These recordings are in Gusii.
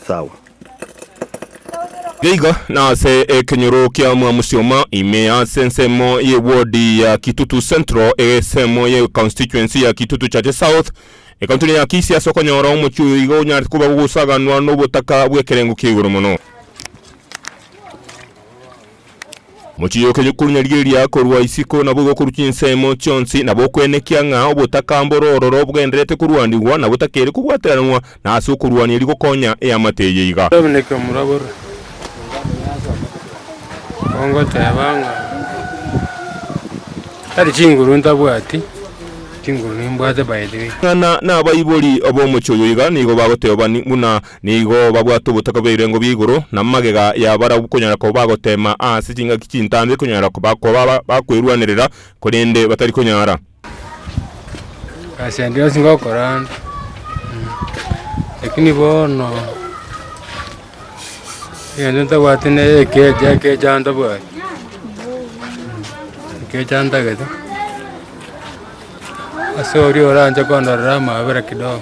Sawa. Geiga nase ekenyoro kia Mwamosioma ime ase ensemo ye ward ya Kitutu Central, esemo ye constituency ya Kitutu Chache South, ekaunti ya Kisii ase okonyora omochie oyo iga onyarete koba ogosaganwa nobotaka bw'ekerengo kia igoro mono. Mochiche goka nyokorunya rigeria korwa isiko, nabo igokorwa chinsemo chionsi, nabo okwenekia ng'a obotaka mbore ororo bwenderete korwanigwa na botakeri kobwateranwa, na ase okorwania erio gokonya eamate eye iga. Dominik omorabure, ongoteba ng'a tari chinguru ntabwati, chinguru nimbwate by the way. Ng'a na nabaibori b'omochie oyo iga nigo bagoteba bani buna Nigo babwate obotaka bw'ebirengo bia igoro, na magega ya barabwo konyara koba bagoteema ase chingaki chintambe konyara koba koba bakwerwanerera, korende batari konyara. Egasi yande yonsi ngokora ande, lakini bono egento ntabwate ne ekeecha, ekeecha ntabwati, ekeecha ntagete. Ase oria oranche kondorera amaabera kidogo.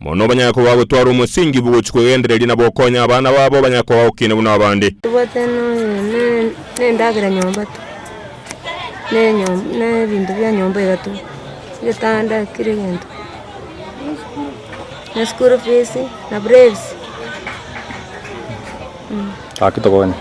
Mono banyare koba bagotwara omosingi bw'ogochia kwegendereria na bokonya abana babo banyare koba bagokina buna abande. Tobwate nonya ne nendagera nyomba tu, ne enyom ne ebinto bia nyomba iga tu, ebitanda kira egento, ne school fees, na brevis. Gaki tokonye.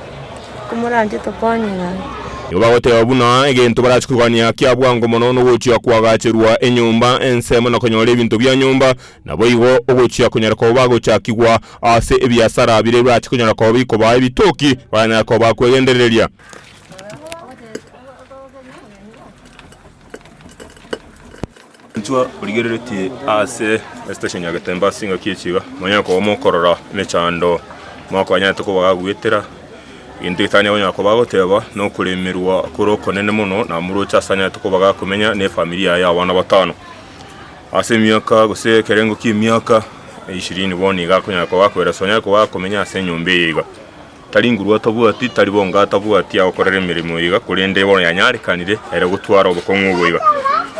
Komoranche tokonye gaki. Nigo bagoteba buna egento barache korwania kia bwango mono nogochia koagacherwa enyomba ensemo na konyora ebinto bia nyomba, naboigo ogochia konyara koba bagochakigwa ase ebiasara biria birache konyara koba bikobaa ebitoki baranyare koba bakwegendereria. Inchuo origereretie ase estation ya Getembe ase engaki ye chiga, monyare koba mokorora emechando mokonyarete koba gaguetera, egento getanyare konyara koba agoteba nokoremerwa kore okonene mono na moroche ase anyarete koba gakomenya ne efamiri yaye ya abana batano. Ase emiaka gose ekerengo ki'emiaka ishirini bono iga akonyara koba akoira so onyare koba akomenya ase enyomba eye iga. Tari nguru atabwati, tari bonga atabwati agokorera emeremo iga, korende bono yanyarekanire ere gotwara obokong'u obo iga.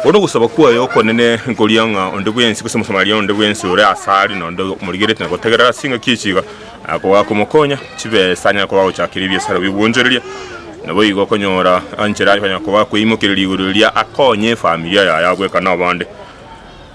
Bono ogosaba kwaye okonene nkoria ng'a onde bwensi, gose Omosamaria onde bwensi ore asare, na onde omorigereti na gotegerera ase engaki echi iga, akoba akomokonya, chibesa anyare koba agochakeria ebiasara bi'obwonchoreria, na boigo okonyora enchera anyare koba akoimokereria igoro riria akonye efamilia yaye abweka nabande.